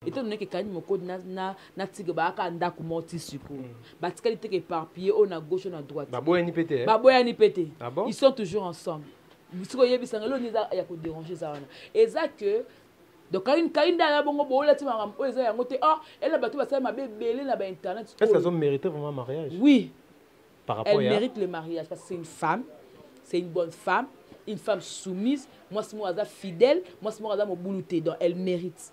etondo neke kani mokodi natika baaka ndako moko ti sikoyo mm. batikali teke éparpillé oyo na gauche oyo na droite baboyani mpe te baboyani mpe te ah ils sont toujours ensemble bisiko oyebisanga elo nini eza ya koderange eza wana eza que donc kaini kaini dala bongo boolati makambo oyo eza yango te oh ela bato basali mabe ebele na bainternet est ce que azomérite vraiment mariage oui par rapport elle mérite le mariage parce que c'est une femme c'est une bonne femme une femme soumise mwasi moko aza fidèle mwasi moko aza mobulu te donc elle mérite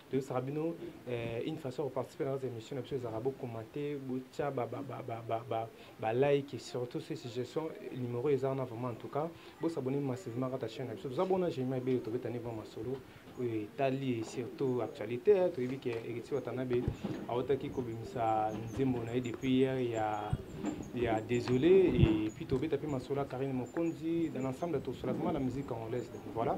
toyosaka bino eh, une façon ya koparticipe na kati ya émission na biso ezalaka bokomante botya balike surtout se suggestion numero eza wana vraiment en tout cas bosabone massivement kata chaîne na biso toza bona gémima ebele tobetani vraimen masolo oyo etali surtout actualité eh, toyebi ke héritier watanabe autaki kobimisa nzembo na ye depuis hier ya ya désolé et puis tobeta mpe masolo ya karine mokonzi dans l'ensemble tosolaka ma la musique congolaise donc voilà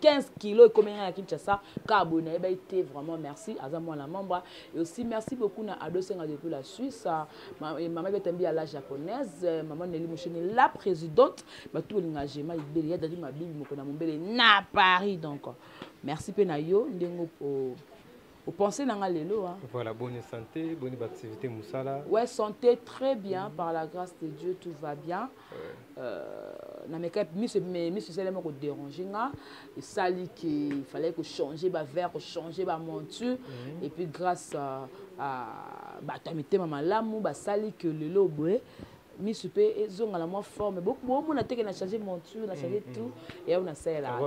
15 kilo ekomi ngai na kinshasa kaka boye nayebaki te vraiment merci aza mwana mamba et aussi merci beaucoup na ado senga depuis la suisse mama betambi ya la japonaise mama neli mosheni la présidente bato bolinga gema libele ya dadi mabibi moko na mombele na paris donc merci mpe na yo ndenge opense na nga lelo hein? voilà bonne santé bonne activité musala ouais santé très bien par la grâce de dieu tout va bien euh, na meka miso miso esalema koderange nga esali ke fallait kochange bavert kochange bamonture mhm. et puis grâce à bato ya mitema malamu basali ke lelo boye misu pe ezonga na mwa forme bomona teke na change monture na mm, change mm. tout eyango nasalela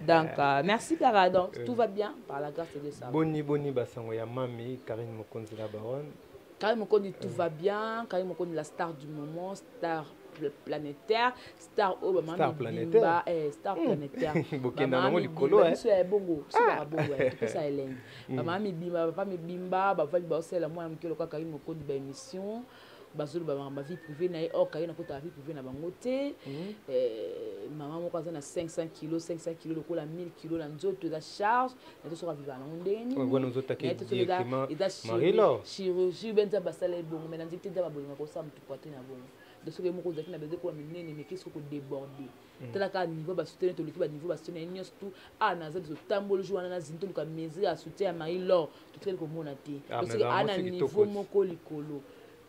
donc euh, merci kara donc euh. tout va bien par la grâce de ça boni boni basango ya mami karine mokonzi la baronne karine mokonzi tout euh. va bien karine mokonzi la star du moment star planétaire star oyo bamamibimba eh, star hmm. planétaire bokenda nango likolo eh. biso ya ebongo sibaka ah. bongo eh, topesa elengi hmm. bamama mibimba papa mibimba bavandi baosala mwana moke lokola kaki mokondi ba émission bazoloba makambo vie privée na ye or kaye nakotaka vie privée na bango te hmm. eh, mama moko aza na 500 kilo 500 kilo lokola 1000 kilo na nzoto eza charge na tosoka viva nango ndenge ninieza chirurgie benza basala ebongo mai na nzete nde babolinga kosala motu poitrine na bongo de soki moko ozalaki na besoin ekoma minene meke soki kodeborde mm. tala kaka niveau basutene toleki baniveau basutene ye nyonso tu a ah, naza biso tamboli jour wana na zini toluka mesure ya soutien ya mai lor totikali komona te ah, soki a na niveau moko likolo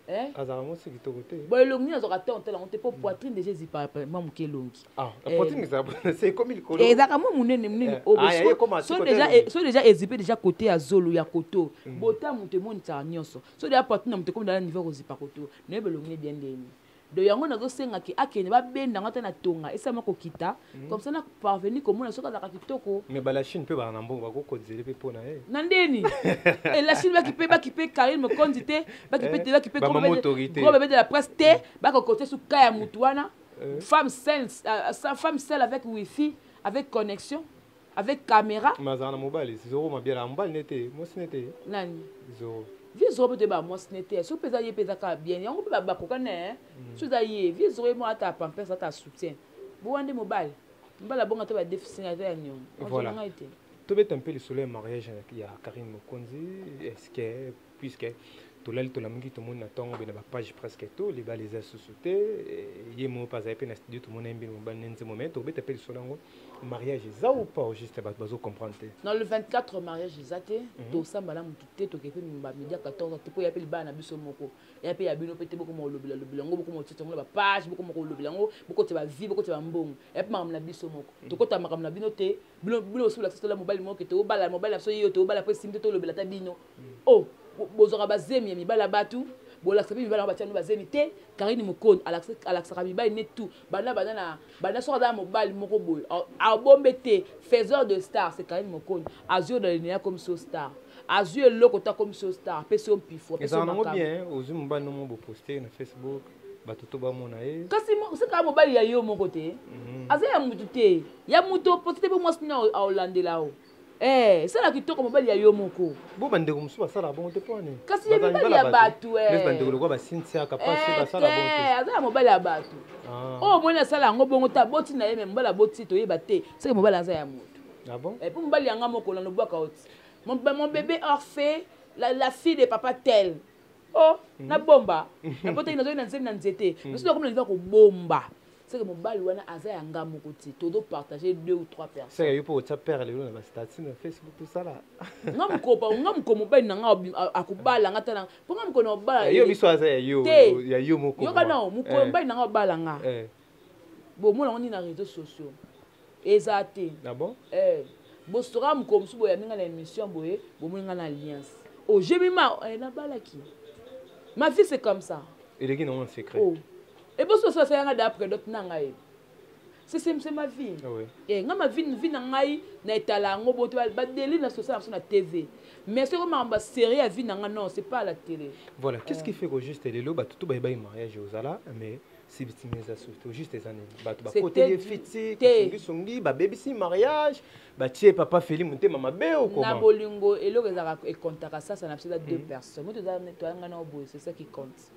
eh? azalaka mwasi kitoko te bo elongi nini azwaka temps otala yango te mpo mm. poitrine déjà ezipa mwa moke elongi ah, eh. ezalaka mwa monene monene eh. so déjà ezipe déjà kote ya zolo ya koto mm. bota moto emonisaka nyonso so deya poitrine na moto ekomi dala niveau ya kozipa koto nayebi elongi ne bien ndeni donc yango nazosenga ke akende babenda yango ata na tonga esalama kokita mhm. comme ça na parvenu komona soki azalaka kitoko mais balachine mpe bana na mbongo bakokonzele mpe mpo na ye na ndeni elachine bakipe bakipe karine mokonzi te bakipe eh, te bakipe gros bebe de la presse te bakokote suka ya motu wana eh. femme seule euh, femme seule avec wifi avec connexion avec camera mais azala na mobali zoro mabiala ya mobali ne te mwasi ne te nani zoro vie zoro mpe toyeba mwasi ne te soki mpe eza ye mpe eza kaka bien yango mpe bakoka ne eh? mm. so eza ye vie zoro ye moko ata pampers ata soutien bowa nde mobali mobali abonga te badefisina ata ya niongo ngai te tobeta mpe lisolo ya mariage ya karine mokonzi eske puisque tolali tolamuki tomoni na ntongo mpe na bapage presque to libala eza susu te eh, ye moko mpe azali mpe na studio tomoni ye mbino mobali na nzembo mai tobeta mpe lisolo yango mariage eza ou pas au juste bato bazo comprendre te na le 24 mariage eza te mhm. tosamba na motu te tokei mpe bamedia 14 te mpo ya mpe libala na biso moko ya mpe ya bino mpe te bokoma olobela lobela yango bokoma otete yango na bapage bokoma kolobela yango bokote bavi bokote bambongo ya mpe makambo na biso moko mhm. tokota makambo na bino te bino bosi bolakisa tola mobali moko ke tobala mobali na biso yeyo tobala mpo esimbi te tolobela ata bino oh bozwaka bazemi ya mibali ya batu bolakisa mpe mibali yango batyani bazemi te karine mokoni alakisaka mibali ne tout banda banda na banda soki aza na mobali moko boye abombe te faiseur de star se karine mokoni azwi yo na linene akomi so star azwi eloko te akomi so star apesi yo mpifo apesi yo makambo bien ozwi mobali nomo boposte na facebook bato to bamona ye kasi oseka mobali ya yo moko te mhm. aza ya motu te ya motu oposte te mpe mwasi nini aolandela yo Eh, sala kitoko mobali ya yo moko. Bo ba ndeko musu basala bongo te pwani. Kasi ya mibali ya batu eh. Mes ba ndeko lokola ba Cynthia kapasi eh, basala bongo te. Aza ya mobali ya batu. Ah. Oh mwana sala yango bongo ta boti na ye mais mobali aboti to yeba te. Seke mobali aza ya moto. Ah bon? Eh, po mobali yanga moko na lobwaka oti. Mon, mon bébé orphe, la, la fille de papa tel. Oh, mm -hmm. na bomba. Na botaki nazali na nzembe na nzete. Mm -hmm. Biso nakomi na liva kobomba. seke mobali wana aza ya nga moko te tozo partage deux ou trois personnes yo mpo otya père lelo na bastatut na facebook tosala nga mokopa nga moko mobali na nga akobala nga tala mpo nga moko na obala eh, yo biso aza ya yo ya yo moko yoka nao mokolo eh. mobali na nga obala nga eh. bomona ngo nini na réseaux sociaux eza te ah bosoka mokolo mosusu boyambi nga na émission boye bomoni nga na alliance ojemi oh, ma nabalaki ma vie c'est comme ça eleki nango na secret oh. ebosi oso asala nga da predote na ngai sesemse ma vie ah oui. e nga ma vie vi na ngai na etala yango boto badeli na sosala biso na tv mais soki makambo ya serie ya vie na ngai non c'est pas à la télé voilà qu'est-ce qui fait que juste lelo bato to bayebaki mariage ozala mais sibitimi eza surtout juste eza nini bato bakoteli ye fiti songisongi babebisi mariage batie papa feli motema mabe okoma na bolingo eloko ezalaka ekontaka sasa na biso eza deux hmm. personnes moto ezalanga nao boye c'est ça qui compte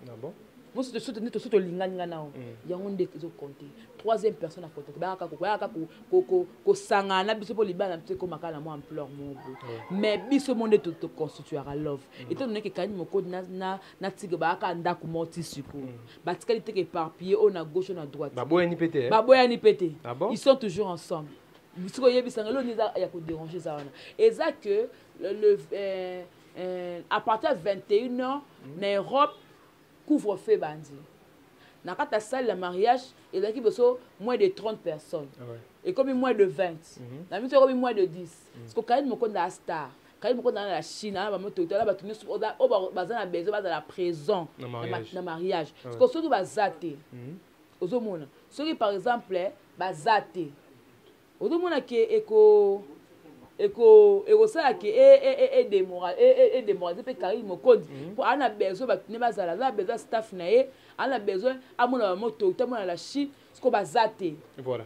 Ah bon? mosusu tosutu nde tosutu tolingani nga nao mm. yango nde ezokonte troisième personne akonte bayaka koyaka kosangana na biso mpo libala na biso ekomaka na mwa ampleur mobo mm. mais biso mo nde toconstituaka love mm. etant donné ke kani mokodi na tige bayaka ndako moko ti sikoyo batikali teke éparpillé oyo na gauche oyo na droite baboyani mpe te baboyani mpe te ah ils sont toujours ensemble sikoyo oyebisanga eloo nde eza ya koderange eza wana eza que le, le, euh, euh, à partir ya 21 heures mm. na europe couvre feu ebandi na kati ya salle ya mariage ezalaki biso moins de 30 personnes ah ouais. ekomi moins de 20 mm -hmm. na biso ekomi moins de 10 mm. siko kaini mokonda ya star kali moko ozala na chine ana bamo totala bato nyonso oyo baza na besoin bazala présent na mariage ah siko soki baza te hmm. ozomona soki par exemple baza te ozomona ke eko eko ekosala ke edemoralize mpe karine mokonzi mpo mm -hmm. ana besoin bato ne bazala aza na besoin staff na ye aza na besoin amona bamoto te amona la chine siko baza te voilà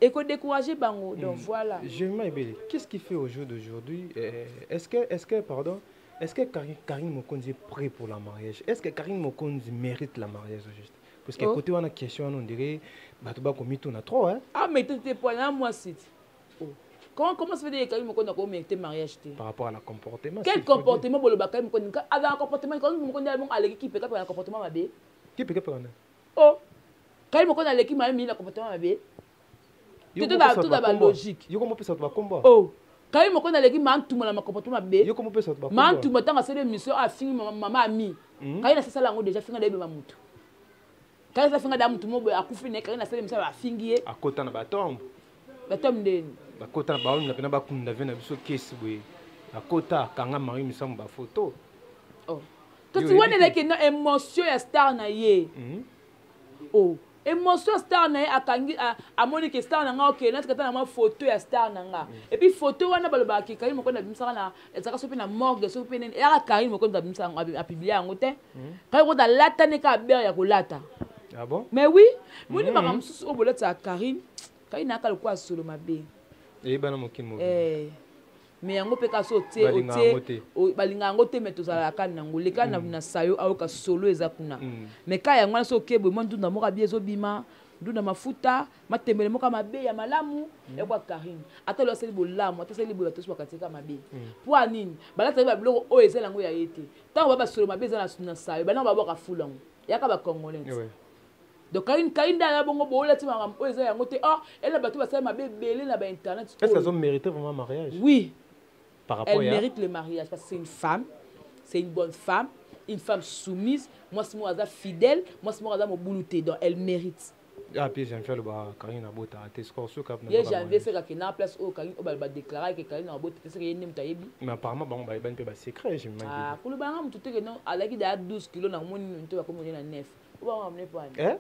ekodécourager bango donc mm. voilà germain ebele qu'est ce qui fait au jour d'aujourd'hui euh, est ce que est ce que pardon est ce que karine, karine mokonzi est prêt pour la mariage est ce que karine mokonzi mérite la mariage au juste parce que oh. côté wana question wana on dirait bato bakomituna trop hein ah mais tete po na mwasi ti oh. comment comment ça fait dire kayi moko na ko mérite mariage te par rapport à la comportement quel comportement boloba kayi moko nika ala comportement kayi moko ndia moko aleki kipe kapa na comportement mabe kipe kapa na oh kayi moko na leki mabe mi na comportement mabe yoko mopesa bato bakombo oh. kayi moko naleki mantuma na makombo to mabe mantuma ntango asali émission afingi ah, mama ami hmm? kayi nasasala yango déjà finga nayebema motu kayi asala finga da motu mo boye akufi naye kayi nasali émission afingi ye akota na batombe batombe ndeni bakota na baomi na pena bakunda ve na biso kesi boye akota akanga marie misango bafoto oh. kasi wana eleki na émotion ya star na ye hmm? o oh, emotion ya star na ye akangi amoni ke star na nga okende nati kata na mwa foto ya star na nga mm. epuis foto wana balobaka ke karine mokondo abimisaka na ezalaka soki mpe na morgue soki mpe nini eyaka karine mokondo abimisaka yango apiblia yango te mm. karine mokondo alatani ka bere ya kolata ah mais oui moni mm. makambo mosusu oyo bolatisaka karine karine ayaka lokola solo mabe eyebana mokili mobimba eh. me yango mpe kasi otie otie balingaka yango te me tozalaka kani nango leka mm. na sayo ayoka solo eza kuna mm. me ka yango wana so okebwe mwa ndunda moko abi ezobima ndunda mafuta matembele moko mabe ya malamu mm. yakwa karine ata loyo asali bolamu ata asali boye bato nyonso bakatika mabe mpo ya nini balataki babiloko oyo ezali yango ya ye te ntango ba basolo mabe eza na sayo banango babwaka fula yango yaka bacongolais donc kain kain nde aya bongo boolati makambo oyo eza yango te or ela bato basali mabe ebele na bainternet est ce que azomérite vraiment mariage oui par rapport elle mérite le mariage parce que c'est une femme c'est une bonne femme une femme soumise mwasi moko aza fidèle mwasi moko aza mobulu te donc elle mérite ape ah, janvier aloba karin abota te score soki ye janvier soki akende na place oyo karin oyo badeclara ke karin abota te soki ye nde moto ayebi mais apparemment bango bayebani mpe basecret kolobanga moto te ke non alaki daya 12 kilo na moni nto bakomi na 9 Eh?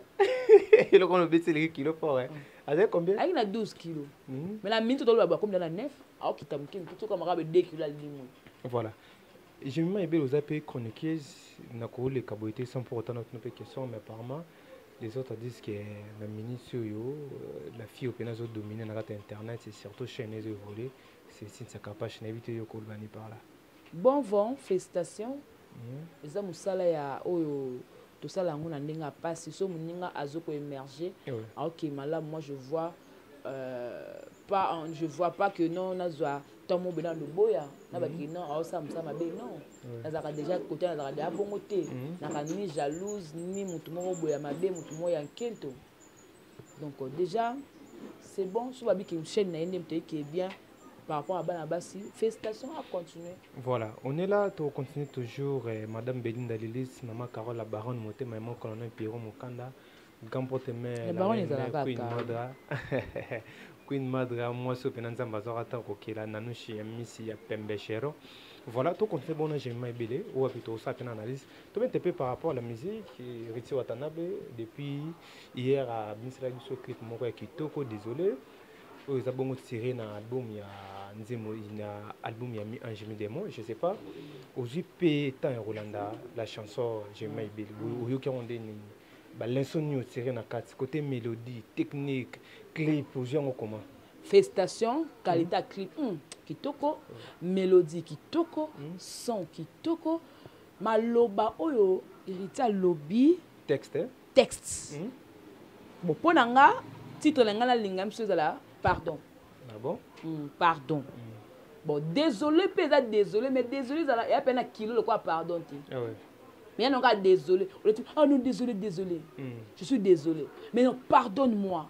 eloko wana obeti eleki kilo fort eh? azali combien ayaki na 12 kilo hmm. mais na minute toloba bakomi na 9 aokita moke moke soki amaka be 2 kilo alimwe voilà jemima ebele oza mpe chroniqueuse na koleka boye te sans pour autant natuna mpe question mais apparemment les autres disent que na minute oyo euh, la fille opena azodomine na kati ya internet et surtout chaîne ezo évolue c'est sinsa kapache nayebi te yo kolobani par là Bon vent felicitations eza musala ya oyo tosala yango na ndenge ya pasi so moninga azo ko emerger aoke malamu moi je vois euh, pas en, je vois pas que non nazwa temps mobe na loboya na baki mhm. non aosala mosala mabe non nazalaka déjà kote nazalaka deja bongo te mhm. naka ni jalouse ni motu moko boya mabe motu moko ya nkento donc euh, déjà c'est bon so babiki chaîne na ye nde moto eke bien par rapport à bana basi félicitations à continuer voilà on est là to continue toujours eh, madame belinda lilis maman carole la baronne motema ya mokolo na pierrot mokanda grand porte mère queen madra queen madra mwasi oyo mpena nzambe azwaka ata kokela nanushi ya misi ya pembe shero voilà to continue bon enchaînement ebele oyo api tosala mpena analyse tobete mpe par rapport à la musique riti watanabe depuis hier abimisela biso clip moko ya kitoko désolé oyo eza bongo tire na album ya nzembo na album ya mi ange mi démon je sais pas ozwi mpe temps ya kolanda la chanson jema ebele oyoki yango nde nini balenso nini otire na kati côté mélodie technique clip ozwi yango comment festation qualité ya clip hmm, kitoko mélodie kitoko hmm. son kitoko maloba oyo héritier alobi texte eh? texte hmm? bon mpo na nga titre na ngai nalinga biso ezala pardon ah bon? mm, pardon mm. bon désolé mpe eza désolé mais désolé ezala eya mpe na kilo lokola pardon te ah ouais. mais ya nonga désolé oleti ah non désolé désolé mm. je suis désolé mais non pardonne moi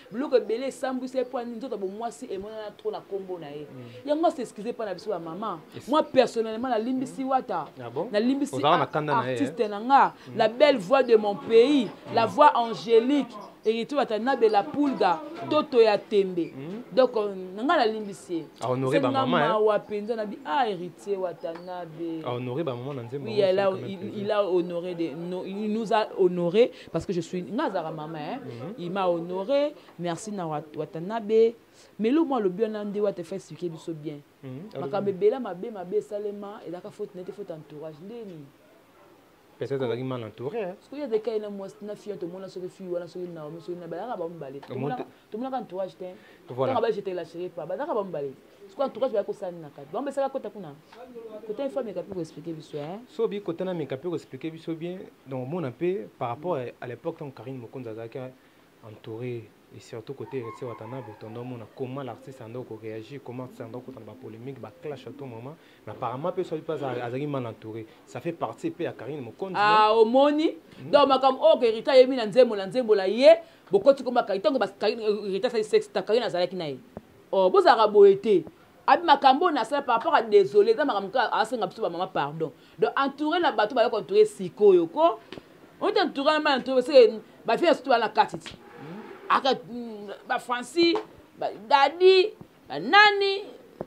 biloko ebele esambwisa ye mpo ani nzoto ya bomwasi emonana tro na nkombo na ye mm. yango asi excuse mpa na biso ya mama moi personnellement nalimbisi mm. wata ah nalimbisi artiste na nga mm. la belle voix de mon pays la voix angélique héritier wata na bela pulga toto ya tembe donc euh, na ngai nalimbisi ye senga mawa mpenza na bi ah héritier wata na be oui, il a honoré de, no, il nous a honoré parce que je suis nga azalaka mama hein? mm -hmm. il m'a honoré merci na watanabe mais lo mwa alobi wana nde wata fa expliquer biso bien mhm. makambo ebele mabe mabe esalema ezalaka faute nete faute entourage nde nini peut-être azalaki mal entouré soki azalaki ye na mwasi na fille tomona soki fille wana soki naomi soki na balaka bamibale tomonaka entourage te tanga ba jetela chérie pa bazaka bamibale sikoyo entourage baya kosala nini na kati bango besaka kota kuna kota ifo ameka mpe koexplike biso eh? so bi kota na meka mpe koexplike biso bien donc omona mpe par rapport à l'époque ntango karine mokonzi azalaki entouré et surtout côté héritier watanabe tondo omona comment l'artiste anda koréagir comment artiste anda kokutana bapolémique baclash à tout moment mais apparemment mpe soki mpe azalaki mal entouré ça fait partie mpe ya karine mokonzi ah, omoni hmm. donc makambo oyo oh, kerita ayemi na nzembo na nzembo na ye bokoti koma karine ntango kerita asali sexe ta karine azalaki na ye oh, bozalaka boye te abi makambo oyo nasala par rapport a désolé eza makambo kaka asenga biso bamama pardon donc entouré na bato bayoka entouré sikoyo ko ote entouré na mal entouré seke bafia sutu wana kati ti hmm. aka hmm, bafranci dadi ba nani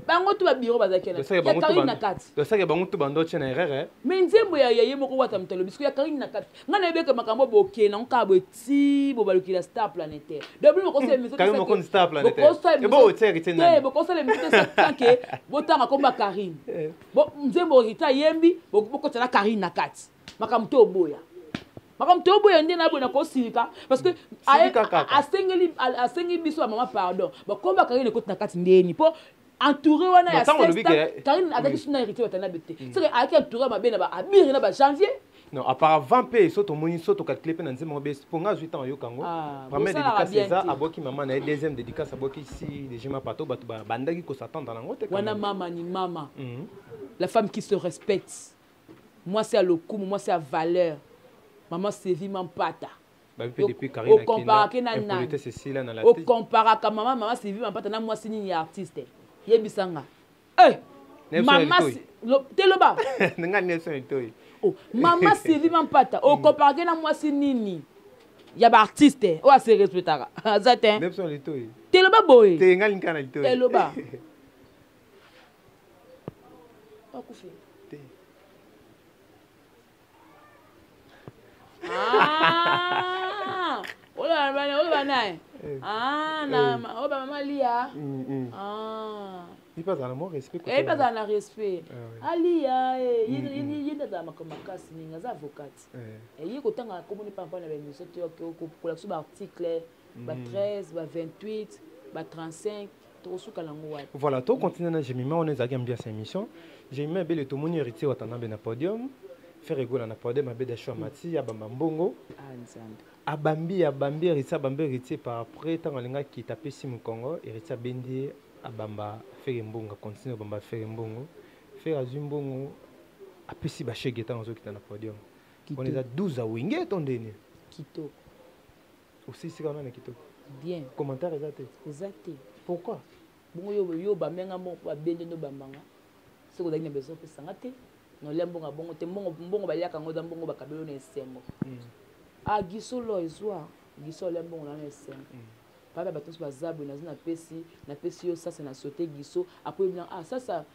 bango tu ba bureau bazalaki ya karine na kati tosaki bango tu bando tye na erreur mais nzembo ya ye moko wata moto alobi siko ya karine na kati ngai nayebeke makambo boke nango kaka boye ti bobalukila star planétaire dobokosala emissiontebokosalemisionteke botanga komba karine nzembo rita ayembi bokotana karine na kati makambo to oboya makambo toboya nde naboye nakosilika parce que asengeli asengi biso ya mama pardon bakoba karine ekoti na kati ndeni mpo entouré wana ya karine azalaki suna héritier batana bete mm. soki ayaki entouré mabe na ba abiri na ba janvier non apparavant mpe so tomoni so tokatile mpe na nzembo ngo besi mpo nga azwi ntango ayokango ah, première dédicace eza abwaki mama na ye deuxième dédicace abwaki si dejima pato bato babandaki kosatanda nango te wana mama ni mama mhm. la femme qui se respecte mwasi ya lokumu mwasi ya valeur mama sevi mampata okomparake na nani okomparaka mama mama sevi mampata na mwasi nini ya artiste yebisa nga eh, mama te loba oh, mama sevi mampata okomparake na mwasi nini ya baartiste oyo ase respectaka aza te te loba boye te loba akufi te ah! oyo bana oyo bana eh. eh. ah na eh. oyo ba mama lia mm, mm. ah ipe azala mo respect ko ipe azala na respect ah alia eh ye mm, ye ndada makambo makasi ninga aza avocate eh ye kotanga komoni pampa na ba émission to ko ko ko ba article ba 13 ba 28 ba 35 tokosuka nango wapi voilà to continuer na jemima wana ezalaki ambiance ya émission jemima ebele tomoni héritier watanabe na podium faire egola na podium abeda sho amati abamba mbongo ah, abambi abambi héritier abambi héritier par après ntango alingaki tapesi mokongo héritier abendi ye abamba fere mbongo akontinue abamba fere mbongo fere azwi mbongo apesi bashege ntango azokita na podium wana eza 12 awenge to ndeni kitoko osilisi kaka nani kitoko bien commentaire eza te eza te pourquoi bongo yo yo bamenga mbongo mpo babende ndo bambanga soki ozalaki na bezo opesa nga te na olia mbongo ya bongo te mbongo mbongo baliaka yango eza mbongo bakabelo na esengo hmm. a giso lo ezwa giso olia mbongo na na esengo hmm. papa bato nyonso baza boye nazo napesi napesi yo sasa na sote giso akoyebi na ah sasa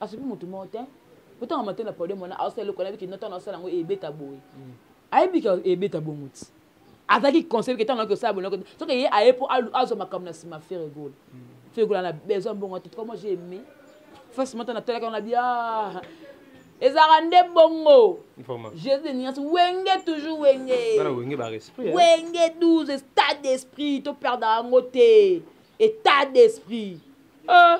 asopi motu moko te kotanga mate na podium wana aosala eloko nayebi kino ntango asala yango ebeta boye mm. ayebi ke ebeta bongo ti azalaki conseil ke ntango akosala bonoko te soki ye aye mpo azwa makambo na nsima fere gola mm. fere gola na besoin mbongo te toko moi j'ai aimé face mata natalaka na bia ah, ezalaka nde bongo jésus de niance wenge toujours wenge wenge 12 stade d'esprit toperdaka yango te état d'esprit euh.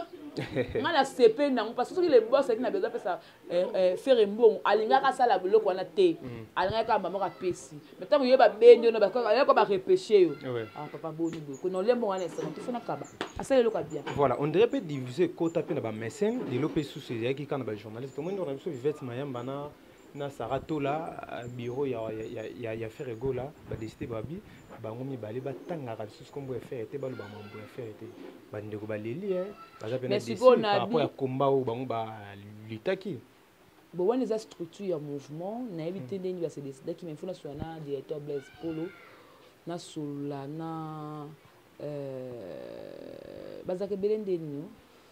nga na sepe nango parce que soki le boss alaki na besoin apesa eh, eh, fere mbongo alingaka asala biloko wana te mm. alingaki kaka mamoko apesi ma ntango ye babendi ono ayaka barepeshe yo ah, ah, papa boni boye kona olia mbongo wana esana tofona kaba asala eloko abia voilà on dirait mpe divise ekota mpe na bamesene lelo mpe susu ezalaki kaka na bajournaliste omoni wana biso vivete mayamba na na Sarah Tola euh, bureau ya ya ya, ya Ferre Gola ba décider babi bango mibale batangaka lisusu kombo ya Ferre te baloba mambo ya Ferre te bandeko baleli eh, baza pena décider par rapport ya combat oyo bango balutaki bon wana eza structure ya mouvement nayebi te hmm. ndenge base décidaki mais fona solola na directeur blaise polo nasolola na euh, bazalaka ebele nde nini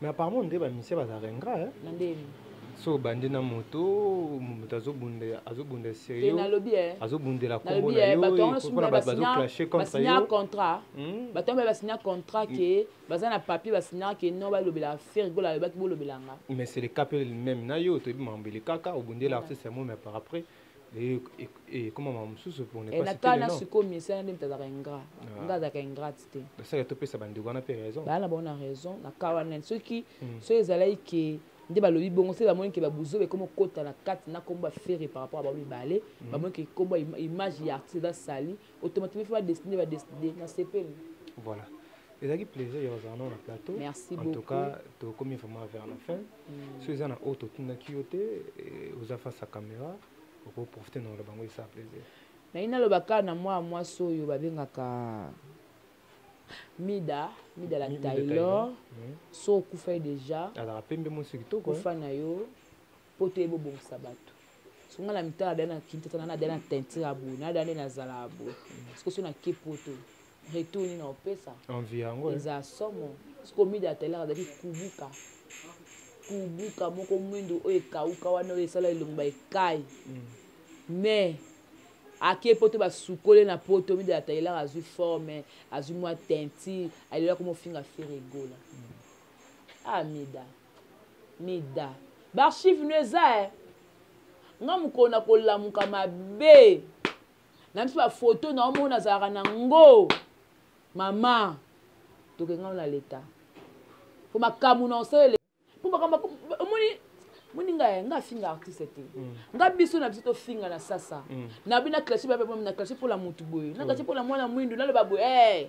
mais apparemment nde bamisie bazalaka ingra so obandi na moto moto azobunda serieusnalobi azobundela kombo na yompona bato bazoclashe contre yo contrat hmm? bato yango basigna contrat hmm. ke baza na papier basignaka ke non balobela affaire gola alobaki bolobelanga mais c'est le cas pe même na yo toyebi mambo elekaka obundela artiste ya momi par après ekoma makambo mosusu na kana sikoyo misala nde moto azalaka ingrat ah. nga azalaka ingrate te basala topesa bandeko wana mpe raison baa na bango na raison na ka wana soki hmm. soki ezalaki ke nde balobi bongo se bamoni ke babuzo bekomi okota na kati na nkombo ya fere par rapport ya bango mibale hmm. bamoni ke nkombo image ya artiste eza sali automatiquement faut ba dessiner ba dessiner na sepeli voilà ezalaki plaisir ya kozala nao na plateau merci en tout cas tokomi vraiment vers la fin mm. so eza na oyo totindaki yo te eh, oza face ya caméra okoprofite na oloba yango esa plaisir naye naloba kaka na mwana mwasi oyo babengaka mida mida la taylor mm. so okufa ye déjà azalaka pembe mosi kitoko kufa na yo mpo toye bobongisa bato soki nga na mitala dani na kintatana na dani na teinture ya boye na dani nazalaka boye soki so nake poto retour nini naopesa eza somo soki omida atalaka azali kubuka kubuka moko mwindo oyo ekauka wana oyo esala elongba ekai mais ake poto basukole na poto mida atalelaka azwi forme azwi mwa teinture alelaka mofinga fere egola amida mm. ah, mida baarchive no eza e eh. nga mokolo na kolamuka mabe na biso bafoto na omo nazalaka na ngo mama tokengao na leta po makambo na osalele po makambo omoni moni nga eh, nga afinga artiste te mm. nga biso na biso tofinga na sasa mm. na bina classe babe na classe mpo na motu boye na classe mpo na mwana mwindu naloba boye eh.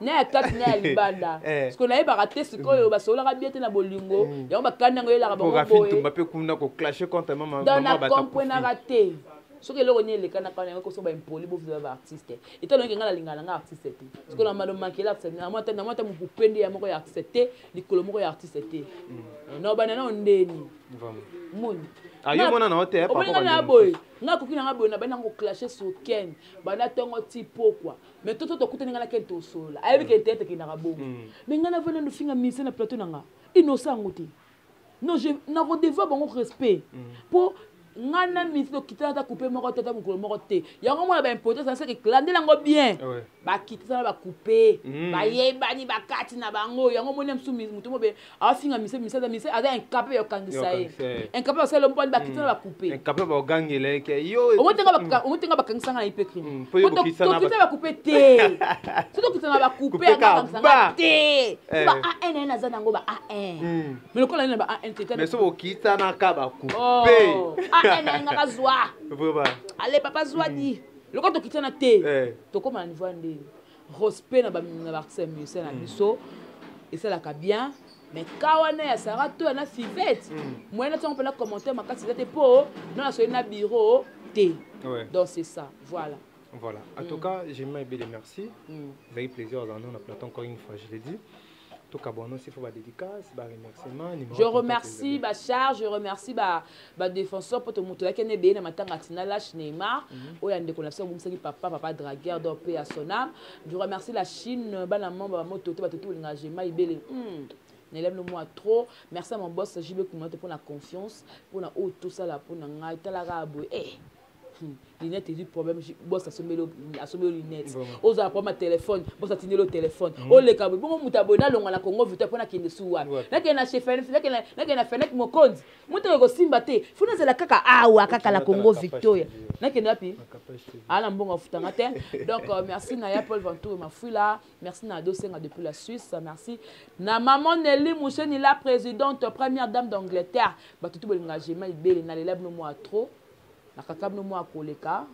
na ya kati na ya libanda siko nayebaka te sikoyo basololaka bie te na bolingo mm. yango bakani yango elaka bangoboyetumba mpe kuna koclashe contre mamadonakomprenaka te soki eloko nini elekanaka na yango koso baimpoli bovia baartiste eta longi ngai nalingana nanga artiste te sikoyo na mado mankele artiste namwa ata mokupe nde ya moko ya artiste te likolo moko ya artiste te mm. na obanda nao ndeni moni omoningana ya boye ngai akoki nanga boye nabandi nango clashe sur ken banda ntongo ti pokwa mais toto tokutani ngai na ken tosolola ayebi ke teyate ekendaka bongo mm. mais ngai navanda nofinga ministre na plateau na nga inosa yango te non nakodeva bango respect mpo mm. ngai na ministre tokitana ata coupe moko te ata mokolo moko te yango mona baimportance nasaki landela yango bien ah bakitana bacoupe mm. bayebani bakati na bango yango moni ya mosusu moto mobe afinga mise mise aza mise aza incapable ya kokangisa ye incapable ya kosala mpo bakiti na bakupe incapable bakogangela ye ke yo omotenga bakangisa ngai mpe crime tokita bakupe te so tokita na bakupe akangisa ngai te ba an ene aza nango ba an me lokola nini na ba an te mais so bokitanaka bakupe an ene nga bazwa ale papa zwadi lokola tokitana te tokóma na niveau ya ndenge respect na ba na ba musiciens na mm. biso esalaka bien mais ka wana ya sara to ya na fivete mm. moyen natiango mpena commentaire makasi eza te mpo no nasoki na bureau te donc c'est ça voilà voilà en tout mm. cas j'aime ebele merci ezalaki plaisir azala nao na platon encore une fois je l'ai dit Je remercie ba charge, je remercie ba ba défenseur pour tout moto yake ne beye na matanga tina lâche Neymar mhm. oya ndeko na biso bomisaki papa papa dragueur do pe à son âme. Je remercie la Chine bana membre ba moto te ba tout linga je mai bele. Hmm. Nelem le moi trop. Merci à mon boss JB Kumato pour la confiance, pour la haute tout ça là pour ngai talaka boye. Eh. Hmm. linete ezwi problème bos asombeli yo linete ozala problème ya telefone bos atindeli yo telefone hmm. oleka boye bongo moto aboye nalonga na congo vita mpo nakende su wapi nakende na chefanakende na fenek mokonzi moto oyo kosimba te fo nazala kaka awa kaka na congo victoria nakende wapi aa na mbongo afutanga te donc euh, merci na ya paul ventour mafuila merci na adosenga depuis la suisse merci na maman neli musheni la présidente première dame d'angleterre bato tu bolinga gema ibele nalela bino mwa trop nakaka bino mwa koleka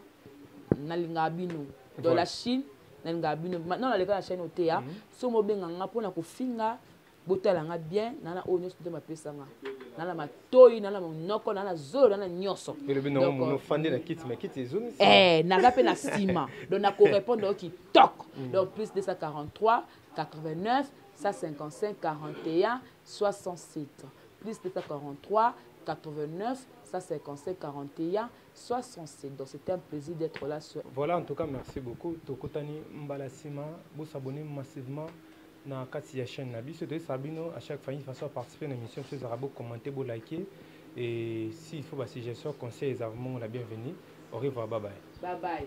nalingaka bino dans la chine nalingaka bino maintenant naleka na chaine oteya mhm. so mobenga nga mpo na kofinga botala nga bien nana oyo nyonso nzambe apesa nga nana matoyi nana monoko nana zolo nana nyonso eh, naza mpe na nsima donc nakorepondre yo kitoko mm. donc plus 243 89 155 41 67 plus 243 89 Ça c'est conseil 41 soit son cédant c'est un plaisir d'être là sur Voilà en tout cas merci beaucoup tokutani mbala sima vous s'abonnez massivement na kati ya chaîne na biso to sabino à chaque fois une façon participer na émission sur arabo commenter bo liker et s'il faut ba suggestion conseil les vraiment la bienvenue au revoir bye bye bye bye